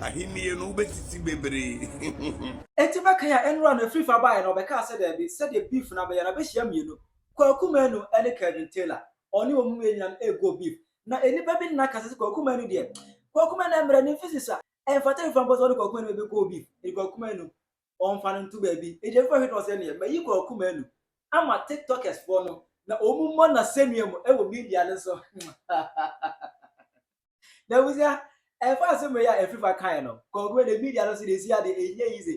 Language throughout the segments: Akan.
Ahenni no, wobesisi bebree. Enti bɛkan a nnora no afiri fa baeɛ no, ɔbɛkaa sɛ daabi, sɛdeɛ Beef no abɛyɛ no, abɛhyia mmienu, Kwaku Manu ne Kelvin Taylor. Ɔne wɔn mmienu nyinaa no ɛreguo Beef. Na nnipa bi nna ka sɛ sɛ Kwaku Manu deɛ, Kwaku Manu ɛmmerɛ no mfi sesa, ɛmfata mfa mpo sɛ ɔne Kwaku Manu bɛbɛ guo Beef, enti Kwaku Manu ɔmfa no nto baabi. Enti afiri fa hwɛ no sɛ neɛ, mayi Kwaku Manu ama Tiktokers foɔ no, na wɔn mmɔ no asɛnnua mu wɔ media no so. na abusua ɛfa asɛm wei a ɛfiri fa kaeɛ no kɔnkɔn ne media no so na ɛsi adeɛ ɛnyɛ yi se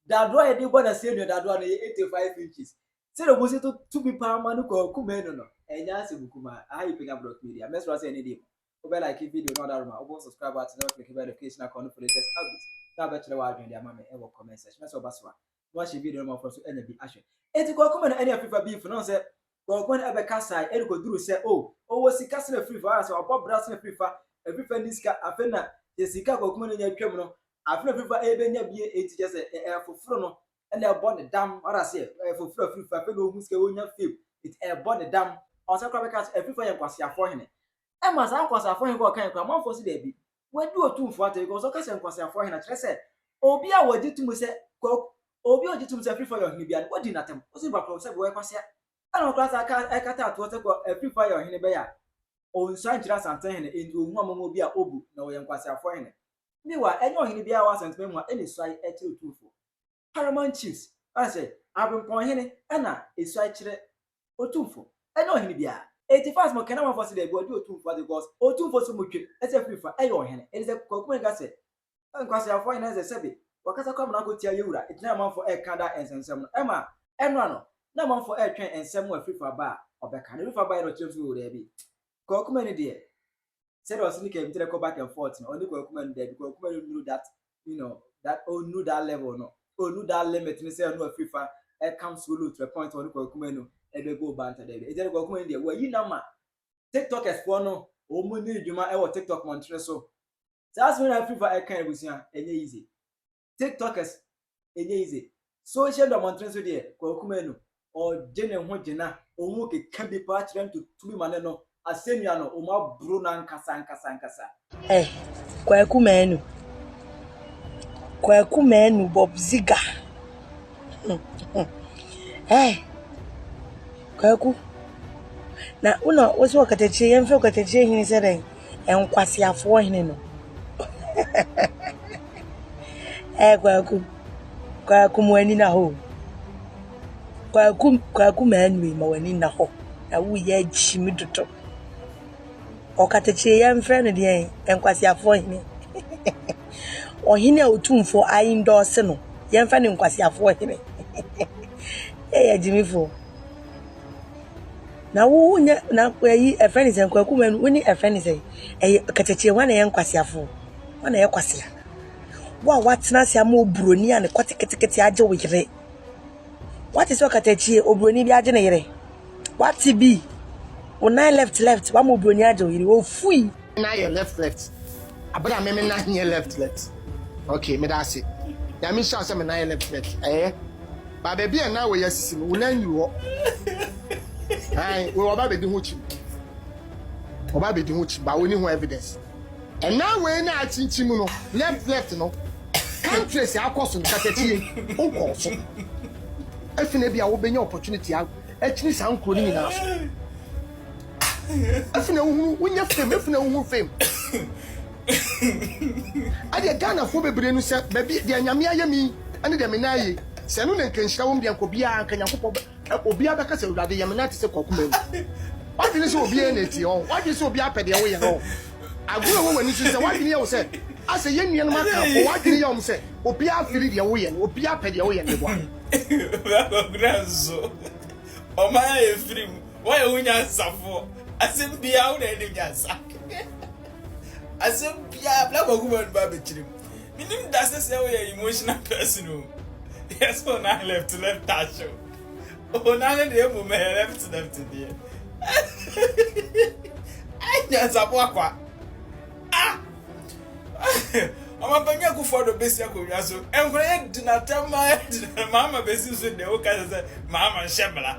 dadoa a yɛde bɔ na sɛ nua dadoa no yɛ 85 inches sɛ na ɔbusi to tumi paa ma no kɔɔ kuma ɛno no ɛnyɛ asɛm kuma aha yɛ pɛnya brɔk media mɛsra sɛ ɛne deɛ wobɛ like video no ɔdaroma wobɔ subscribe at na wafiri kibɛ notification akɔ no for latest updates na wabɛkyerɛ w'adwene de ama me ɛwɔ comment section na sɛ ɔba so a na wahyɛ video no ma afoforo nso anya bi ahwɛ. Enti Kwaku ma no ani afefa beef na ɔhu sɛ Kwaku no ɛbɛka sae ɛde kɔduru sɛ oh ɔwɔ sika sene afiri fa, anaasɛ ɔbɔ bra sene afiri fa, afiri fa nni sika, afei na sɛ sika a Kwaku ma no nya twam no afei na afiri fa ɛbɛnya bie, enti kyerɛ sɛ ɛyɛ afoforo no na ɛbɔ ne dam, wate aseɛ, ɛyɛ afoforo afiri fa, afei na ɔhu sika ɔnya fame, enti ɛbɔ ne dam. Ɔsan koraa bɛka sɛ afiri fa yɛ nkwaseafoɔ hene. Ɛma saa nkwaseafoɔ hene kɔ ɔkan koraa amanfoɔ se daabi, Wadi Otumfoɔ atɛn because ɔka sɛ nkwaseafoɔ ahene a, kyerɛ sɛ obi a wɔgye tom sɛ Kwaku, obi a ɔgye tom sɛ Afrifoɔ yɛ ɔhene biara no, wadi no atɛm. Ɔsi nnipa korɔ sɛ wɔyɛ kwasea. Ɛna ɔkora saa ka ɛkata atoɔ sɛ Kwa, Afrifoɔ ayɛ ɔhene bɛyɛ a, ɔnsuan nkyerɛ Asantehene hene, enti ɔhu a mɔmɔ bi a ɔbu na ɔyɛ nkwaseafoɔ hene. Meanwhile, ɛnyɛ ɔhene biara a ɔwɔ Asantemamu a ɛna suae kyerɛ Otumfoɔ. Paramount Chiefs, ɔka sɛ, Aberempɔn Hene na esuae kyerɛ Otumfo, ɛnyɛ ɔhene biara. Enti fa asɛm a ɔkae no ma fa sɛ daabi ɔde Otumfo ase because Otumfo nso mu twe sɛ firi fa ɛyɛ ɔhene. Enti sɛ Kwaku Mensah ka sɛ, Nkwaseafo ahe na ɛsɛ sɛ sɛbe wɔkasa kɔ amena akɔtia yɛn wura gyinae a amanfo ɛreka da nsɛmnsɛm no ɛma ɛnora no na amanfo ɛretwɛn nsɛm mu a firi fa ba a ɔbɛka no firi fa baeɛ no ɔkyerɛ mu sɛ oo daabi. Kwaku Manu deɛ sɛdeɛ ɔse ne kɛmtere kɔ back and forth no ɔne Kwaku Manu daabi Kwaku Manu nnuru that you know that ɔnnuru that level no ɔnnuru that limit no sɛ ɔne wafiri fa ɛkam solo to a point ɔne Kwaku Manu ɛbɛ go banta daabi ɛgya ne Kwaku Manu deɛ wayi nama tiktokers foɔ no wɔn ni dwuma ɛwɔ tiktok mɔntere so saa asɛm na afiri fa ɛka abusua ɛnyɛ easy tiktokers ɛnyɛ easy social media mmɔntene so deɛ Kwaku Manu ɔgye ne ho gyina ɔmu keka bi paa kyerɛ ntotumi ma ne no asɛnnua no ɔmu aboro no ankasa ankasa ankasa. Eh, Kwaku Manu. Kwaku Manu Bob Ziga. eh, Kwaku. Na una wo so okatakyire, yɛmfɛ okatakyire hene sɛ dɛn? Nkwaseafoɔ hene no. Ɛɛ Kwaku, Kwaku mo ani na hɔ o. Kwaku, Kwaku Manu ma w'ani nna hɔ na woyɛ akyimi dodo. Ɔkatakyie yɛmfrɛ no deɛn? Nkwaseafoɔ hene. Ɔhene a Otumfoɔ a endorse no yɛmfa no nkwaseafoɔ hene. Ei agyimifoɔ. Na wo nyɛ na ɛyi ɛfɛ ne sɛ nkwaku ma wo ne ɛfɛ ne sɛ ɛyɛ kɛtɛkyɛ hɔ na ɛyɛ nkwaseafo hɔ na ɛyɛ kwasea wo a watena ase ama oburoni a ne kɔ teketekete agye wo yere wate sɛ ɔkatakyie oburoni bi agye ne yere wate bi wo nan left left wama oburoni agye wo yere ofui Nna ayɛ left left aber a me me nan nyɛ left left ok meda ase nyame nhyira wo sɛ me nan yɛ left left ɛyɛ ba baabi a nan wɔ yɛ asisi no wo nan nyiri hɔ wo ɔba bɛdi ho kyim ɔba bɛdi ho kyim ba wɔni ho evidence ɛna wei na akyinkyim no left left no countries akɔ so no katakyie wokɔ so ɛfina bi a wobɛnya opportunity akyini saa nkuro no nyinaa so afei na wohunu wonyɛ fam afei na wohunu fam adeɛ ghanafoɔ bebree no sɛ baabi deɛ nyame ayɛ me ɛne deɛ me nan ayɛ sɛ ɛno na nka nhyira wɔm deɛ nka obiara nka nyankopɔn obiara bɛka sɛ awurade yɛ me nan te sɛ kwakuma mu wadwene sɛ obiara na ɛtie ɔ wadwene sɛ obiara pɛ deɛ woyɛ no agorɔ wɔ w'ani so sɛ wadwene yɛ wo sɛ asɛ yɛn nuanom aka fo wadwene yɛ wɔn sɛ obiara fili deɛ woyɛ no obiara pɛ deɛ woyɛ no bɔ Woayɛ wo nyansafoɔ. Asɛm biara wo na ɛnim nyansa. Asɛm biara bla wakuma no ba bɛkyerem. Menim da sɛ sɛ woyɛ emotional person o. Yes o na left left touch o. O na ne deɛ mmom ɛyɛ left left deɛ. Ai nyansafoɔ akwa. Ah! Ɔma bɛnyɛ kufoɔ do bɛsi akonnwa so. Nkora yɛ di na tɛm ma yɛ di na maama bɛsi so deɛ woka sɛ sɛ maama nhyɛ bla.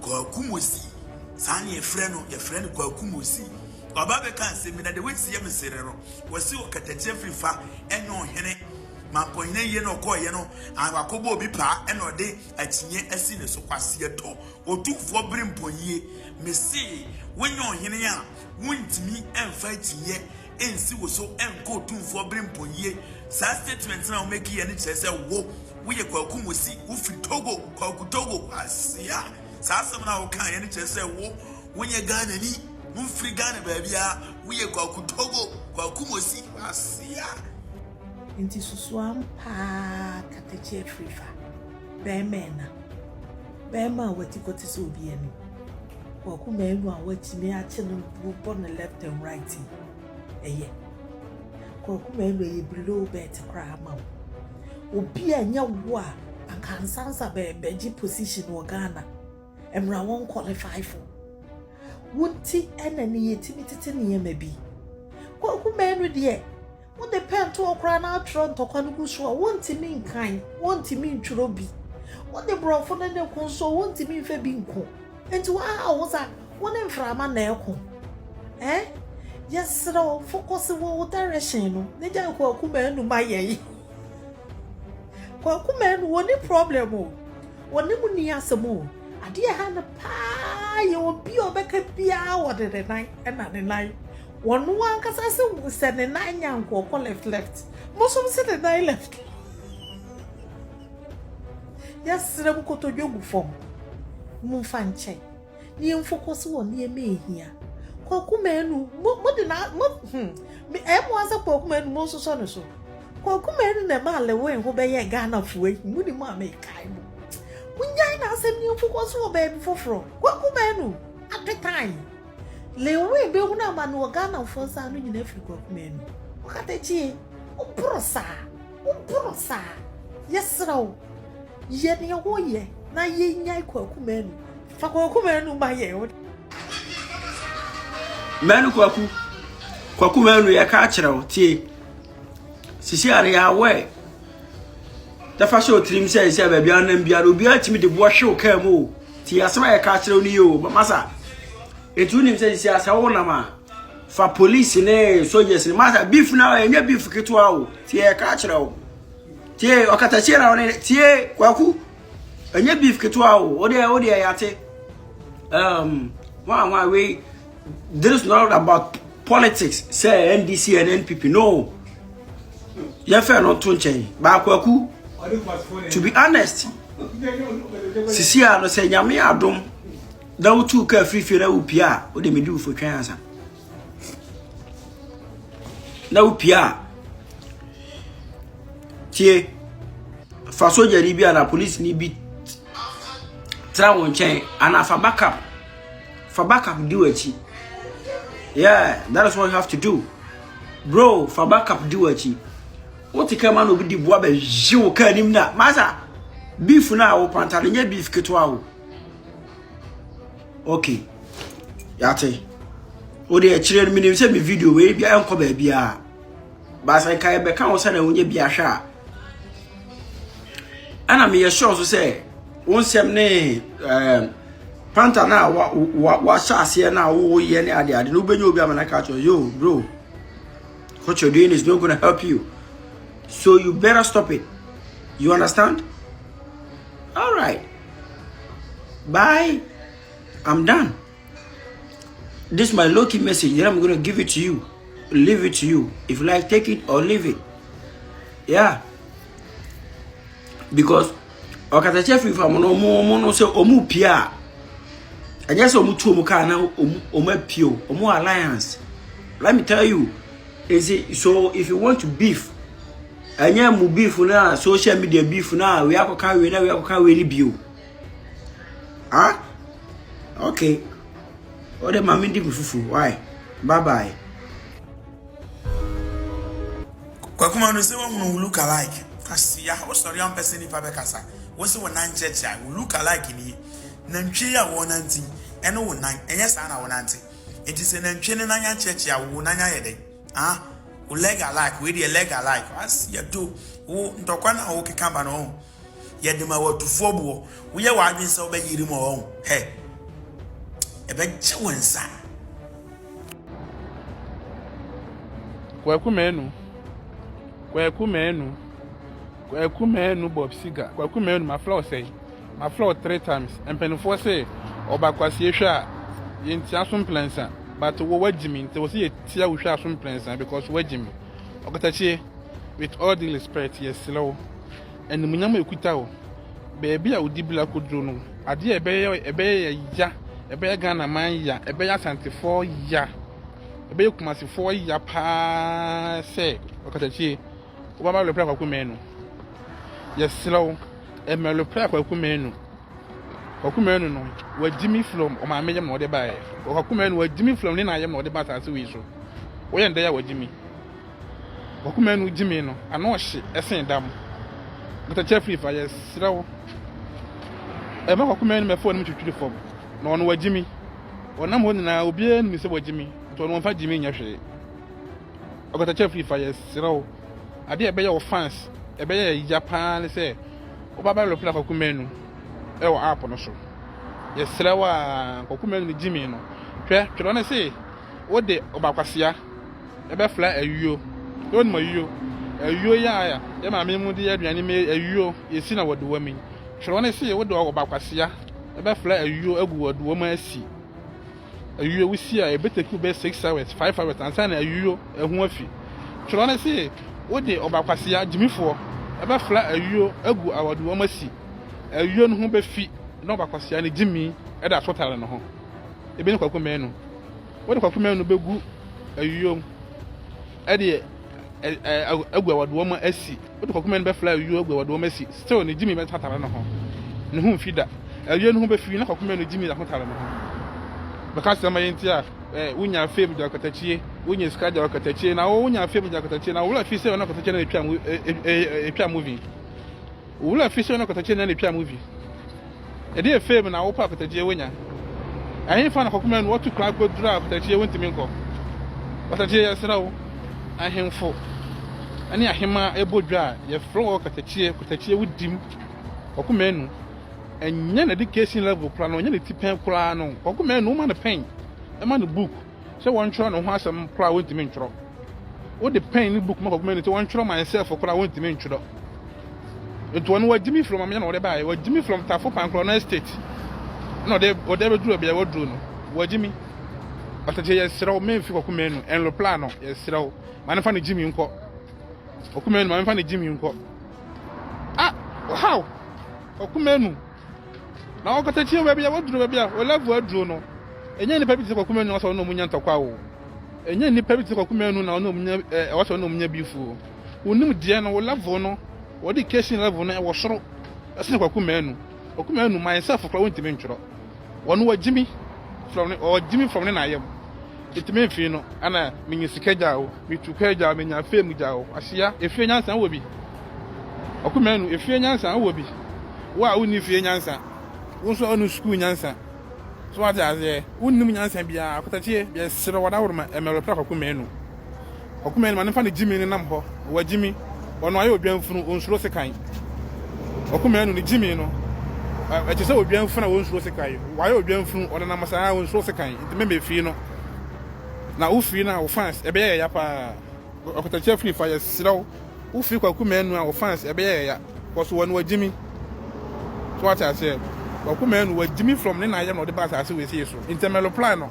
Kwaku Mosey, saa na yɛfrɛ no, yɛfrɛ no Kwaku Mosey. Ɔba bɛka asɛm bi na deɛ wɔasi yɛ me sere no, wɔsi ɔkatakyia firi fa ɛnyɛ ɔhene. Mampɔnhene yie na ɔkɔɔyɛ no, wakɔbɔ obi paa ɛna ɔde akyinnye asi ne so. Kwaseɛtɔ, otumfoɔ bere mpɔnyie. Mese, wonyɛ ɔhene a, wontumi mfa akyinnyeɛ ɛnsi wo so nkɔ otumfoɔ Birimpong yie saa statement no a wo make yɛ no kyerɛ sɛ wo wo yɛ Kwaku Mosi wo firi Togo Kwaku Togo kwasea saa asɛm no a wo kaa yɛ no kyerɛ sɛ wo wo nyɛ Ghana ni wo mfiri Ghana baabiara wo yɛ Kwaku Togo Kwaku Mosi kwasea Nti susuam paa kata kyi atri fa. Bɛɛma ɛna. Bɛɛma a wati kɔ te sɛ obi ani. Kwaku Manu a watumi akye no bɔ no left and right yi. Ɛyɛ. Kwaku Manu ɛyɛ below bɛɛte koraa ma wo. Obi a nyɛ wo a anka ansansa bɛgye position wɔ Ghana. Ɛmra wɔn qualify fo. Wonti ɛna ne yɛtumi tete nneɛma bi. Kwaku Manu deɛ Wode pɛntoɔ koraa na atwerɛ ntɔkwa no gu so a, wontumi nkan, wontumi ntwerɛ bi. Wode borɔfo no ne ko nso a, wontumi mfa bi nko. Enti woahaw wo ho saa? Wo ne mframa na ɛko eh? Yɛsrɛ wo, fokɔse wɔ wo direction no na gyae Kwaku Manu ma yɛn. Kwaku Manu, ɔnni problem o. Ɔne mo nni asɛm o. Adeɛ ɛha no paa yɛ obi a ɔbɛka biara ɔde ne nan na ne nan. Wɔno ankasa se wo sɛ ne nan nya nko ɔkɔ left left mosom se ne nan left yɛsrɛ mo kotodwe gu fam mo mfa nkyɛ ne yɛn focus wɔ nneɛma ehia kwaku manu mo mo de na mo hmm me ɛmo asɛ kwaku manu mo nsosɔ ne so kwaku manu na ɛma alewen ho bɛyɛ Ghana fo ayi mo ni mo a mekae mo mo nyan na asɛm ne yɛn focus wɔ baabi foforɔ kwaku manu apetan Lewin bɛhunu amane wɔ Ghanafoɔ nsa ano nyina firi Kwaku Manu. Ɔkatakyie, woboro saa, woboro saa. Yɛsrɛ wo, yɛ deɛ woyɛ na yɛnyae Kwaku Manu. Fa Kwaku Manu ma yɛn. Manu Kwaku, Kwaku Manu yɛka akyerɛ wo, tie. Sisi adeɛ awɛ. Na fa hyɛ wo tirim sɛ sɛ baabi a wonam biara obiara tumi de boɔ hwe wo kaa mu o nti asɛm a yɛka kyerɛ wo no yɛ o masa ɛti wonim sɛ sisi asɛ wonam a fa polisi ne soldiers ne masa beef no a ɛnyɛ beef ketewa o nti yɛka kyerɛ wo tie ɔkatakyie na wone tie kwaku ɛnyɛ beef ketewa o wodeɛ wodeɛ yɛate um, wa wa wei This is not about politics sɛ NDC and NPP no yɛfɛ no to nkyɛn baako aku to be honest sisi a no sɛ nyame adom na wotu ka afirifie na wopie a wode medi wo fotwɛn ansa na wopie a tie fa sogyani bi anaa polisini bi tra wo nkyɛn anaa fa backup Fa backup di w'akyi. Yeah, that is what you have to do. Bro, fa backup di w'akyi. Wote kaa ma na obi di boa bɛ hye wo kaa nim na. Masa, beef na wo panta no nyɛ beef ketewa wo. Okay. Yate. Wo de akyire no menim sɛ me video wei bia ɛnkɔ baabi a. Basa nka yɛbɛka wo sɛ na wonyɛ bi ahwɛ a. ɛna meyɛ sure nso sɛ wo nsɛm ne ɛɛ panta no a wa wa wahyɛ aseɛ no a woyɛ ne ade ade no wobɛnya obi ama no aka kyerɛ yo bro what you're doing is not gonna help you so you better stop it you understand all right bye i'm done This my low key message that I'm gonna give it to you. Leave it to you. If you like, take it or leave it. Yeah. Because ɔkatakyɛ fi fam no ɔmo ɔmo no sɛ ɔmo pie a ɛnyɛ sɛ ɔmo tu ɔmo kaa na ɔmo ɔmo apue o ɔmo alliance let me tell you is it so if you want to beef ɛnyɛ mu beef na social media beef na wei akɔka wei na wei akɔka wei ni bio. Ah? Okay. What the mommy did fufu? Why? Bye bye. Kwakuma no say one who look alike. Kasia, o sorry am person nipa be kasa. Wo se won nan church a, wo look alike ni. Nantwi a won nanti, ene wo nan, enye saa na won nanti. Enti se nantwi ne nan yan church a, wo nan ayɛ dɛn? Ah? Wo leg alike, we de leg alike. Asia do. Wo ntɔkwa na wo keka ba no. Yɛde ma w'atufoɔ boɔ. Woyɛ w'adwene sɛ wobɛyere mu ɔn hɛ. Ɛbɛgye wo nsa. Kwaku Manu, Kwaku Manu, Kwaku Manu Bob Seger, Kwaku Manu mafrɛ wo sɛn? Mafrɛ wo three times, mpaninfoɔ se ɔba kwasie hwɛ a yɛntia so mprɛnsa but wo wagyi me nti wɔ se yɛtia wo hwɛ a so mprɛnsa because wagyi me. Ɔkatakyie with all due respect yɛsrɛ wo. Animuonyam a ɛkuta wo, baabi a wo dibra kɔduro no, adeɛ a ɛbɛyɛ ɛbɛyɛ yɛ ya, ɛbɛyɛ Ghana man ya, ɛbɛyɛ Asantefoɔ ya, ɛbɛyɛ Kumasefoɔ ya paa sɛ ɔkatakyie, wobɛba abɛlopra Kwaku Manu. Yɛserɛ wo, mmɛlopra Kwaku Manu. Kwaku Manu no, wagyi me from ɔmaame yam na ɔde baeɛ. Kwaku Manu wagyi me from ne na yam na ɔde ba asase wei so. Woyɛ ndɛ a wagyi me. Ɔkoma anu gyimii no, ano ɔhye sen da mo. Nkatakyia firi fa, yɛsrɛ wo. Ɛma ɔkoma anu mɛfo anim twitwiri fam, na ɔno wagyimi. Ɔnam hɔ nyinaa, obiara nim sɛ wagyimi, nti ɔno ɔmfa gyimii nyɛ hwee. Ɔkatakyia firi fa, yɛsrɛ wo. Adeɛ a ɛbɛyɛ wo fans, ɛbɛyɛ ya paa ne sɛ wobɛba reply Kɔkoma anu wɔ app no so. Yɛsrɛ wo a, Kɔkoma anu gyimii no. Hwɛ, twerɛ no se wode ɔba kwasea. Yɛbɛfra ayuo. Sɛ wonim ayuo, ayuo yi a yɛn maame mu de yɛ aduane mu yi, ayuo, yɛsi na wɔdowa mu yi, twerɛ no se wode ɔbakwasea bɛfra ayuo agu wɔdowa mu asi ayuo. Wosi a, ɛbɛteki wo bɛyɛ six hours, five hours ansa na ayuo ho afi. Twerɛ no se wode ɔbakwasea, gyimifoɔ, bɛfra ayuo agu awadowa mu asi ayuo no ho bɛfi na ɔbakwasea no gyimi da so tare ne ho. Ebi ne kwaku mmaanu. Wode kwakomɛn no bɛgu ayuo mu ɛde agu awadoɔ mu asi. Wode kwakomɛn no bɛfla ayuo agu awadoɔ mu asi. Still ne gyimi bɛtatare no ho. Ne ho mfi da. Ayuo no ho bɛfi na kwakomɛn no gyimi ahotare no ho. Bɛka sɛ ma yɛ nti a wonya fame gya ɔkatakyie, wonya sika gya ɔkatakyie, na wonya fame gya ɔkatakyie, na wowura fi sɛ ɔna ɔkatakyie na ɛtwa movie. Owura a fishɛ no kotɔkye na ne twa mu bi. Ɛdeɛ fame na wopɛ a kotɔkye wo nya. Ɛhenfa na kɔkoma nu ɔto kura kɔ duru a kotɔkye wo ntumi nkɔ. Kotɔkye yɛ srɛ wo. Ahenfo ɛne ahemaa ɛbɔ dwa a yɛ frɛ wɔ kotɔkye kotɔkye wo dim. Kɔkoma nu ɛnyɛ na education level kura no ɛnyɛ ne ti pɛn kura no. Kɔkoma nu wo ma no pɛn. Ɛma no book. sɛ wɔntwerɛ ne ho asɛm koraa wɔntumi ntwerɛ wode pɛn ne book mɛkɔkoma ni sɛ wɔntwerɛ myself koraa wɔntumi ntwerɛ nti wɔn wɔgye me from amena na wɔde baeɛ wɔgye me from tafo pankorɔ no estate na ɔde ɔde abɛduru baabi a wɔduru no wɔgye me ɔtɛkyɛ yɛserɛ wo memfi kɔkoma nu ɛnlopla no yɛserɛ wo ma ne fa ne gye me nkɔ kɔkoma nu ma ne fa ne gye me nkɔ ah how kɔkoma nu Na ɔkatakyie baabi a waduro baabi a Olevo aduro no, ɛnyɛ nnipa bi te sɛ Kwaku Manu na ɔsɛ ɔne ɔmo nya ntɔkwa o. Ɛnyɛ nnipa bi te sɛ Kwaku Manu na ɔne ɔmo nya ɛɛ ɔsɛ ɔne ɔmo nya beef o. Wonim deɛ no, wo level no, wɔde case no level no ɛwɔ soro ɛsene Kwaku Manu. Kwaku Manu myself koraa wontumi ntwerɛ. Ɔno wagyimi from ne ɔgyimi from ne naayam. Enti me mfii no ana menya sika gya o, metu kɔ gya o, menya fame gya o, Kwasea, efie nyansa wowɔ bi? Ɔkumanu, efie nyansa wowɔ bi? Wo a wonni fie nyansa, wo nso a wonni sukuu nyansa, so wate aseɛ, wonnim nyansa biara, Kotakyie, yɛsrɛ wo, Adaworoma, Ɛmɛrɛ Prak Ɔkumanu. Ɔko mɛn ma ne mfa ne gyimi ne nam hɔ wɔ gyimi ɔno ayɛ odwan funu onsuro sekan ɔko mɛn no ne gyimi no ɛte sɛ odwan funu a onsuro sekan wayɛ odwan funu ɔno nam saa onsuro sekan nti mɛmɛ fii no na wo fii no a wo fans ɛbɛyɛ yɛya paa ɔkatakyɛ fini fa yɛ serɛw wo fii kwaku mɛn no a wo fans ɛbɛyɛ yɛya kɔso wɔ no wɔ gyimi so ate aseɛ ɔko mɛn no wɔ gyimi from ne na ayɛ na ɔde ba asase wɔ esie so nti mɛloplan no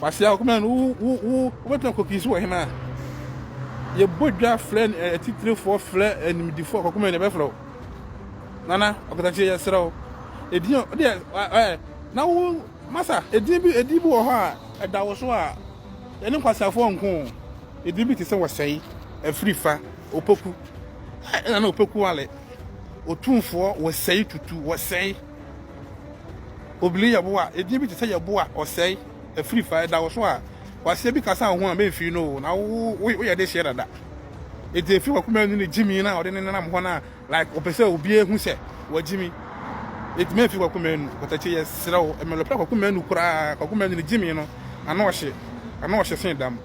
Kwasea wo comment no wo wo wobɛtumi akɔ pii so wɔ hema a yɛbɔ dwa frɛ atitirifoɔ frɛ animdifoɔ akɔ comment no ɛbɛfrɛ wo nana ɔkatakyie yɛserɛ wo ɛdin deɛ ɛɛ na wo masa ɛdin bi ɛdin bi wɔ hɔ a ɛda wo so a yɛne nkwaseafoɔ nko ɛdin bi te sɛ wɔsɛe afiri fa opoku ɛna na opoku wale otumfoɔ wɔsɛe tutu wɔsɛe Obiri yɛ boa, edin bi te sɛ yɛboa, ɔsɛe, afiri fa, ɛda wo so a, kwasia bi kasa a ohun a memfii no o, na wo wo woyɛ de hyɛ dada. Enti efiri wakoma mu ne gyimi na ɔde ne nenam hɔ na like ɔpɛ sɛ obiara hu sɛ wagyimi. Enti memfiri wakoma mu, patakyɛ yɛ serɛ wo, ɛmɛ lɔpɛ wakoma mu koraa, wakoma mu ne gyimi no, ano ɔhye, ano ɔhye sen dam.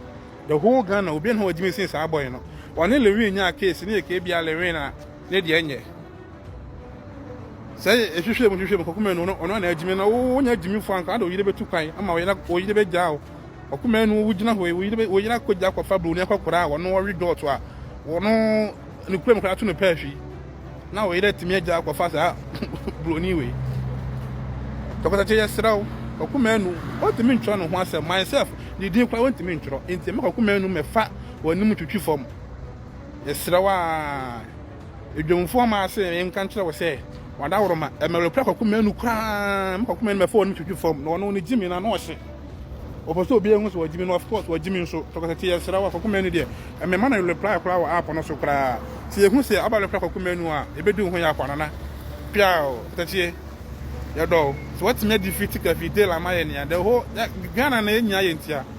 The whole Ghana, obiara ne ho wagyimi sen saa boy no. Ɔne Lewin nyaa case, ne yɛ kee bia Lewin a. ne deɛ nyɛ sɛ ehwehwɛ mu hwehwɛ mu kɔkɔma nu ɔno na agyimi na wonya agyimi fo anka na oyere bɛtu kwan ama oyere oyere bɛgyaa o ɔkɔma nu wogyina hɔ oyere oyere akɔgya akɔfa buroni akɔkora a ɔno ɔwe dɔɔto a ɔno ne kura mu kora ato no pɛ ahwi na oyere atumi agya akɔfa saa buroni wei tɔkɔtɔkyɛ yɛ serɛ o kɔkɔma nu ɔntumi ntwerɛ ne ho asɛm myself ne din kora ɔntumi ntwerɛ nti mɛkɔkɔma nu mɛfa wɔn anim twitwi fam Mesrɛ wo ara, adwumfoɔ mmaa se menka nkyerɛ wo sɛ w'adaworoma ɛmɛre kura kɔko mmienu koraa me kɔko mmienu mɛfɔ no twitwi fam na ɔno ne gyi me na na ɔhye ɔpɛ sɛ obi ehu sɛ wɔgye me no of course wɔgye me nso tɔkɔtɛ te yɛsrɛ wo kɔko mmienu deɛ ɛmɛma no reply koraa wɔ app no so koraa sɛ yɛhu sɛ aba reply kɔko mmienu a ɛbɛdu ho yɛ akɔ anana piao tɛkyeɛ yɛdɔ sɛ wɔtumi adi fi tika fi dela ma yɛ nea dɛ hɔ Ghana na yɛnyia yɛ ntia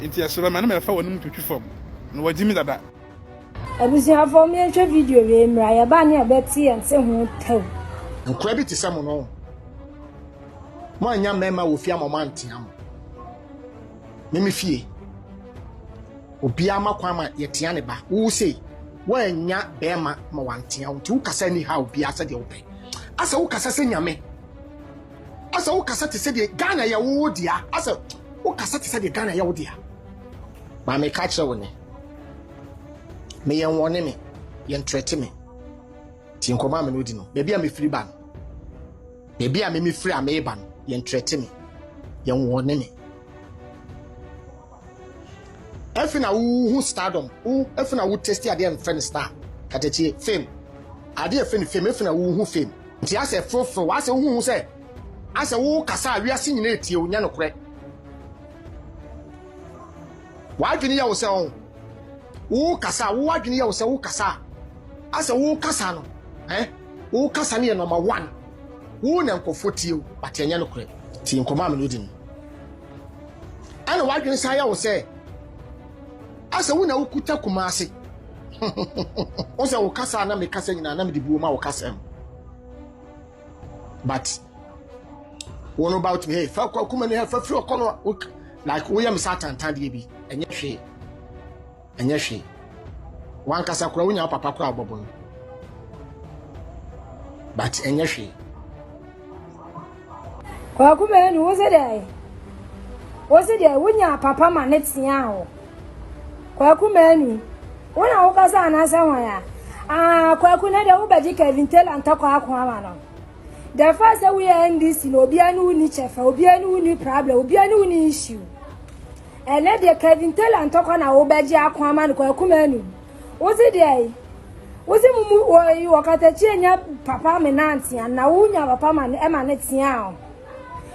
Enti ɛserɛ me a na mɛfa w'anom twitwi fam, na wɔagye me dada. Abusuafoɔ monhwɛ video wei mmra yɛba ne yɛbɛte yɛn se ho tɛw. Nkora bi te sɛ mo no mo annya mmarima wɔ fie ama ɔmo antea mo me me fie obiara ma kwan ma yɛtea ne ba wo sei woannya barima ma wantea wo nti wo kasa ni ha obiara sɛdeɛ wopɛ asɛ wo kasa sɛ nyame Asɛ wo kasa te sɛ deɛ Ghana yɛ wo dea asɛ wo kasa te sɛ deɛ Ghana yɛ wo dea ma me ka kyerɛ wo ne me yɛn wɔne me yɛn trɛte me ti nkɔmɔ ame no di no baabi a me firi ba no baabi a me me firi a me ba no yɛn trɛte me yɛn wɔne me Afei na wo hu stardom, wo afei na wo testi adeɛ mfɛ no star, katatie, fame, adeɛ ɛfɛ no fame, afei na wo hu fame. Nti asɛ frofro, w'asɛ wo hu sɛ asɛ wo kasa a wiase nyina etie wo, nyɛ nokorɛ. W'adwene yɛ wo sɛ ɔn, wo kasa, wo adwene yɛ wo sɛ wo kasa a, asɛ wo kasa no, eh, wo kasa no yɛ number one, wo na nkorɔfoɔ tie wo, but ɛnyɛ nokorɛ. Nti nkɔmɔ a me ne wo di no. Ɛna w'adwene san yɛ wo sɛ asɛ wo na wokuta Kumase. Wo sɛ wo kasa a na mekasa nyinaa na mede buo ma wo kasɛm. But wo no ba wotumi hey fa kɔ akuma ni ha fa firi ɔkɔ no like woyɛ me sɛ atantadeɛ bi ɛnyɛ hwee. Ɛnyɛ hwee. Wankasa koraa wonya wo papa koraa ɔbɔbo no. But ɛnyɛ hwee. Kwaku Manu wo se dɛ wo se dɛ wonya papa ma ne tea wo. Kwaku Manu wo na wo kasa anasa hwan ya. Ah Kwaku na dɛ wo bɛgye Kevin Taylor ntakwa ako ama no. The fact sɛ woyɛ NDC na obiara ne wo ni kyɛfa, obiara ne wo ni problem, obiara ne wo ni issue. Ɛnɛ deɛ Kevin Taylor ntɔkwa na wobɛgye ako ama no kwaku manu wose deɛ yi wose mumu wɔyi wɔkatakyie nya papa me nantea na wonya papa ma ne ɛma ne tea o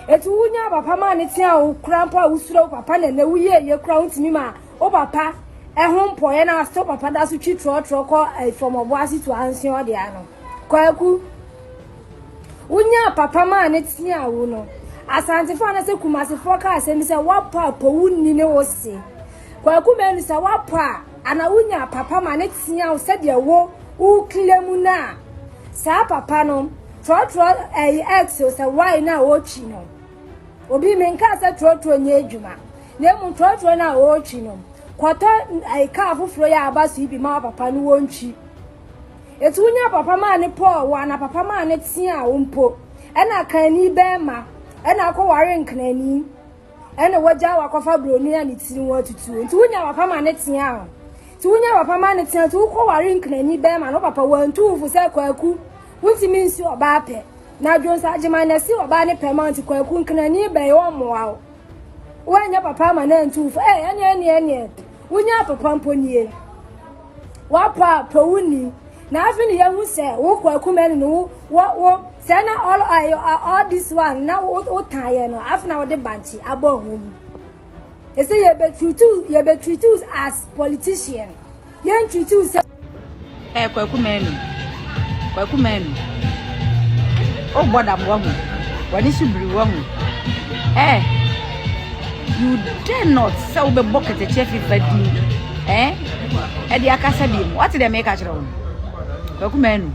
etu wonya papa ma ne tea o kura mpo a wosuro papa na ɛnɛ woyɛ ɛyɛ kura wontumi ma o papa ɛho mpɔyɛ na asɔ papa da so twi trɔtrɔ kɔ ɛfɔmɔbo ase tu ansi ɔde ano kwaku Wonyaa papa maa no teaa wo no. Asantefoɔ anasɛ Kumasefoɔ ka asɛm bi sɛ wapɔ a pɔ wo nni ne wo se. Kwaku Manu sɛ wapɔ a ana wonyaa papa ma ne teaa wo sɛdeɛ wo wokle mu no a saa papa no trɔtrɔ ɛyi X o sɛ why no a wotwi no. Obi menkaa sɛ trɔtrɔ nyɛ adwuma na emu trɔtrɔ no a wotwi no kɔtɔ ɛyi kaa foforɔ yɛ aba so yi bi ma papa no wontwi. Eti wo nya papa maa ne pɔɔ wo ana papa maa ne teaa wo mpo ɛna akanni bɛɛma ɛna akɔ ware nkenani ɛna wagyaa wo akɔfa broni a ne tiri ho atutuo nti wo nya papa ma ne teaa wo ti wo nya papa ma ne teaa ti wo kɔ ware nkenani bɛɛma no papa wantu wo fo sɛ kwaku wontumi nsi ɔbaa pɛ na adwonsa agyema na si ɔbaa ne pɛ ma nti kwaku nkenani bɛyɛ ɔmmoa wo woanyɛ papa ma no antu wo fo ɛɛ ɛneɛ ɛneɛ ɛneɛ Wonya apopa mpo nie. Wapɔ a pɔ wo ni. Na afei ne yɛhu sɛ wo kɔ akuma ni no wo wo wo sɛ na all all this one na wo wo tan yɛ no afei na wode bankye abɔ ho mu. Ɛsɛ yɛbɛtreat yɛbɛtreat as politician. Yɛntreat sɛ Ɛɛ Kwaku Manu, Kwaku Manu, o bɔ dam wahu, w'ani so biri wahu, ɛɛ you dare not sɛ wobɛbɔ kɛtɛkyɛ fifa din ɛɛ ɛde akasa bi mu wate deɛ meka kyerɛ wo Kwaku Manu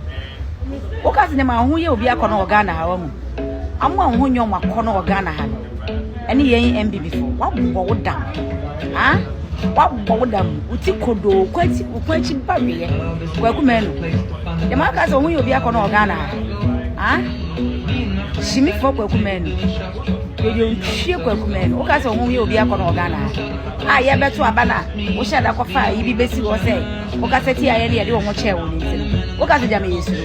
woka sɛ nneɛma ho yɛ obi akɔ no wɔ Ghana ha wahu amo a ho nyɛ ɔmo akɔ no wɔ Ghana ha no Ɛne yɛn mbibifo wabɔ wo dam ah wabɔ wo dam wo ti kodoo kwati wo kwati ba weyɛ kwaku mɛnu dɛm aka sɛ ɔmo yɛ obi akɔ na ɔgana ah shimi fɔ kwaku mɛnu yɛyɛ ntwie kwaku mɛnu woka sɛ ɔmo yɛ obi akɔ na ɔgana a yɛbɛto aba na wohyɛ da kɔfa yi bi bɛsi hɔ sɛ woka sɛ ti a yɛne yɛde ɔmo kyɛɛ wo ne nsɛm woka sɛ gyama yɛ suro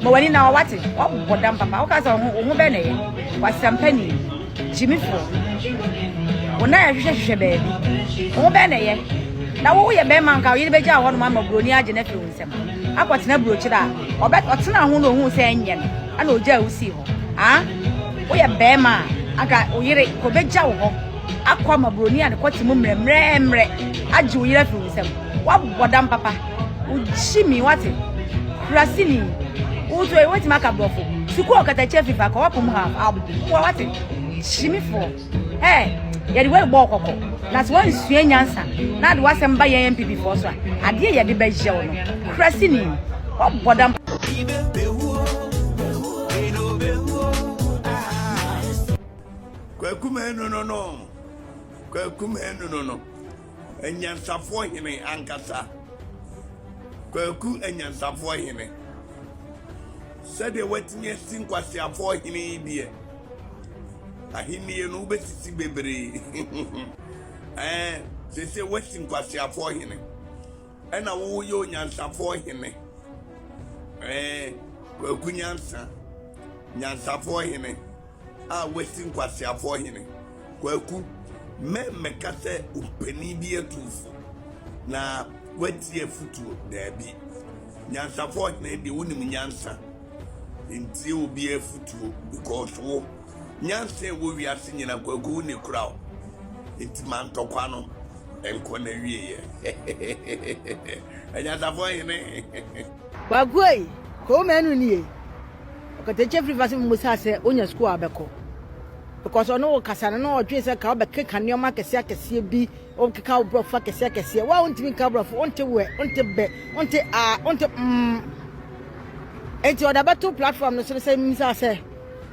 Ma w'ani na hɔ wate, woabobɔ dam papa. Woka sɛ wo ho wo ho bɛn na ɛyɛ, w'asɛmpa ni, gyimifoɔ. Wo nan ɛhwehwɛ hwehwɛ baabi, wo ho bɛn na ɛyɛ. Na wo woyɛ bɛrima nka wo yere bɛgya hɔ nom ama buroni agye no afiri wo nsam akɔtena burokyerɛ a ɔbɛ ɔtena ho na ohun sɛ ɛnyɛ no ɛna ogya a wosii hɔ ah woyɛ bɛrima a anka wo yere kɔbɛgya wo hɔ akɔ ama buroni a ne kɔte mu mmerɛ mmerɛ mmerɛ agye wo yere afiri wo nsam wabɔ dam papa. wogyimi wate kurasini wotu ayi wetumi aka borɔfo sukuu ɔkatakyɛ fifa ka wapom ha aboa wate gyimifoɔ ɛɛ yɛde wɔn bɔ ɔkɔkɔ na sɛ wɔnsua nyansa na de wasɛm ba yɛn npp foɔ so a adeɛ yɛde bɛyɛ wɔn kurasini wɔbɔ dam. Kwaku menu no no. Kwaku menu no no. Anyansafoɔ hene ankasa. Kwaku anyansafoɔ hene. Sɛdeɛ woatumi asi nkwaseafoɔ hene yi deɛ, ahennie no wobɛsisi bebree. Ɛɛ, sese woasi nkwaseafoɔ hene. Ɛna woyɛ onyansafoɔ hene. Ɛɛ, kwaku nyansa. Nyansafoɔ hene. a wasi nkwaseafoɔ hene. Kwaku, mɛ mmɛka sɛ ɔmpanin bi atumfo na watie afutuo, daabi. Nyansafoɔ hene deɛ wonim nyansa, ntie obiara afutuo because wo, nyansa a ɛwɔ wiase nyina Kwaku wo ni kora o. Nti ma ntɔkwa no nkɔ n'awieɛ. Anyansafoɔ hene. Kwaku ei, Kowmenu nie. Ɔkatakyie firi fa sɛ mmusaa sɛ ɔnya sukuu a ɔbɛkɔ because ɔne wo kasa no na ɔdwene sɛ ka wobɛkeka nneɛma akɛseɛ akɛseɛ bi wobɛkeka wo borɔfo akɛseɛ akɛseɛ wo a wontumi nka borɔfo wonte wɛ wonte bɛ wonte a wonte mm enti ɔde abɛto platform no so no sɛ mmusaa sɛ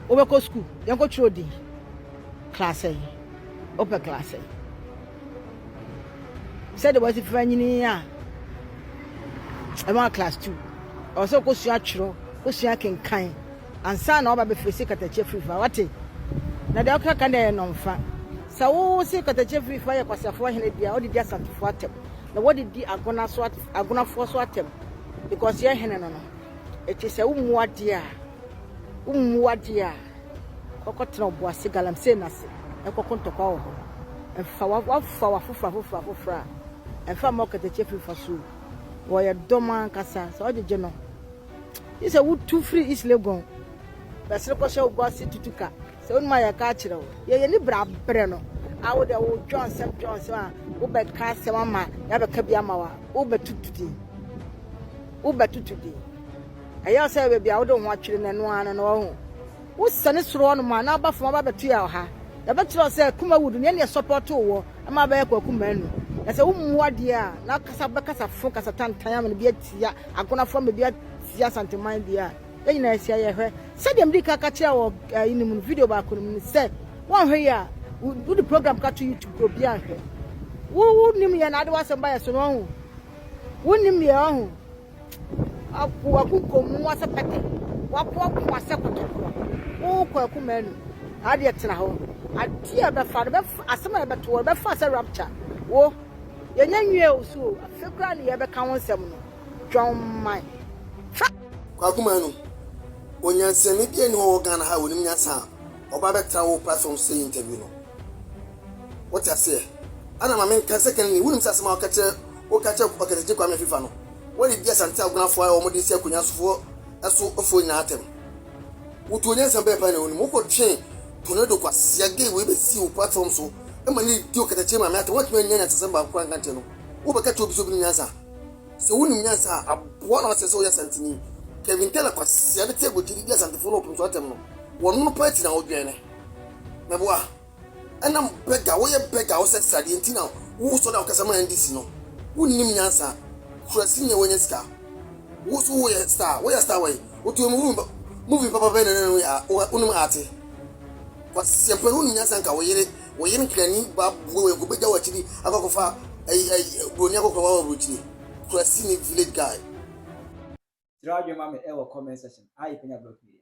wobɛkɔ sukuu yɛnkɔtwerɛ din klaasɛ yi wopɛ klaasɛ yi sɛdeɛ wɔsi fa nyini a ɛma class two ɔwɔ sɛ ɔkɔsua atwerɛ kɔsua kenkan ansa na ɔba bɛfiri se katakyi afiri fa wate na deɛ ɔka ka deɛ nɔmfa sɛ wo se katakyi afiri fa yɛ kwaseafoɔ hene deɛ ɔde di asantefoɔ atɛm na wɔde di agona so agonafoɔ so atɛm because yɛ hene no no ɛti sɛ wo mmu adeɛ a wo mmu adeɛ a Kɔkɔtena Obuasi galamsey no ase nkɔko ntɔkwa wɔ hɔ. Ɛmfa wo afoforɔ afoforɔ afoforɔ afoforɔ a, ɛmfa mma ɔkatakyie firi fa so o. Wɔyɛ dɔm ankasa. Sɛ ɔgyegye no, gye sɛ wotu firi East Legon bɛsere kɔhyɛ Obuasi tutu ka. Sɛ wonim a yɛka akyerɛ wo. Yɛn ani bere abere no a wo deɛ wodwɔn nsɛm dwɔn nsɛm a wobɛka asɛm ama yɛabɛka bi ama wo a, wobɛtutu din. Wobɛtutu din. Ɛyɛ sɛ baabi a wode wo ho atwere no, ɛno ara no na ɔhu. Wosiane soro hɔnom a, na aba fam aba abɛtoa wo ha. Yɛbɛkyerɛ wo sɛ kuma wudu nea ɛne ɛsɔpɔtoo wo ma abɛyɛ kwaku manu. Na sɛ wummu adeɛ a, na akasa wobɛkasa fo, kasa tantan ama no bi atia Agonafo ama bi atia Asante man bi a. Yɛn nyinaa yɛasi ayɛ. Hwɛ, sɛdeɛ medii kan ka kyerɛɛ wo wɔ ɛyi no mu no, video baako no mu no, sɛ woanhwɛ yie a, wode program ka to YouTube koraa obiara nhwɛ. Wo, wonim yɛn na wode w'asɛm ba yɛn so no, ɔhu. Wonim yɛn, ɔhu. Apu aku kɔ mua sɛ pɛtɛ. Wapo aku mua sɛ kɔtɔ korɔ. Wokɔ aku manu. Adeɛ tena hɔ. Adeɛ a ɛbɛfa no bɛfa. Asɛm a ɛbɛto wo no bɛfa sɛ rapture. Wo, yɛnyɛ nwie wo so o. Afei koraa na yɛrebɛka wo nsɛm no. Dwamman. Hwɛ! Kwaku Manu, onyansani biara nni hɔ wɔ Ghana ha a onim nyansa a ɔba bɛtra wo platform so yɛ interview no. Wote aseɛ? Ɛna ma menka sɛ Kennedy, wonim sɛ asɛm a ɔka kyerɛ Woka kyerɛ Ɔkɛsɛkye Kwame Afifa no, wɔredi Asante Agonafoɔ a wɔde si akonya sofoɔ so foɔ nyinaa atɛm. Wotuo nyansa bɛn paa na wonim? Wokɔtwee Tornado kwasea gay wei bɛsii wo platform so ma no redi Ɔkɛsɛkye maame atɛm. Woantumi annya nyansasɛm baako koraa anka nkyerɛ no. Wobɛka kyerɛ obi sɛ obi nim nyansa? Sɛ wonim nyansa a, aboa na woasrɛ sɛ woyɛ Asanteni. Kevin Teller kwasea de te aguakyɛ de di Asantefoɔ no ɔpem so atɛm no, wɔnom no paa ti na wodwɛne. Mɛboa? Ɛna bɛga wo yɛ bɛga wo sɛ sradeɛ nti na wo sɔre a wokasa ma NDC no wo nnim nyansa kura si nyɛ wanya sika wo so wo yɛ star wo yɛ star wɛn wo to mu movie movie papa bɛn na nana wo yɛ a wo nim ate kwasi sɛmpɛ no nim nyansa nka wo yere wo yere nkrani ba bua wɛn ko bɛgya wo akyiri akɔkɔfa ɛyi ɛyi broni akɔkɔfa wa wɔ aburokyiri kura si ni village guy. Kyerɛ w'adwene ma me ɛwɔ comment section a yɛpɛ nya blog media.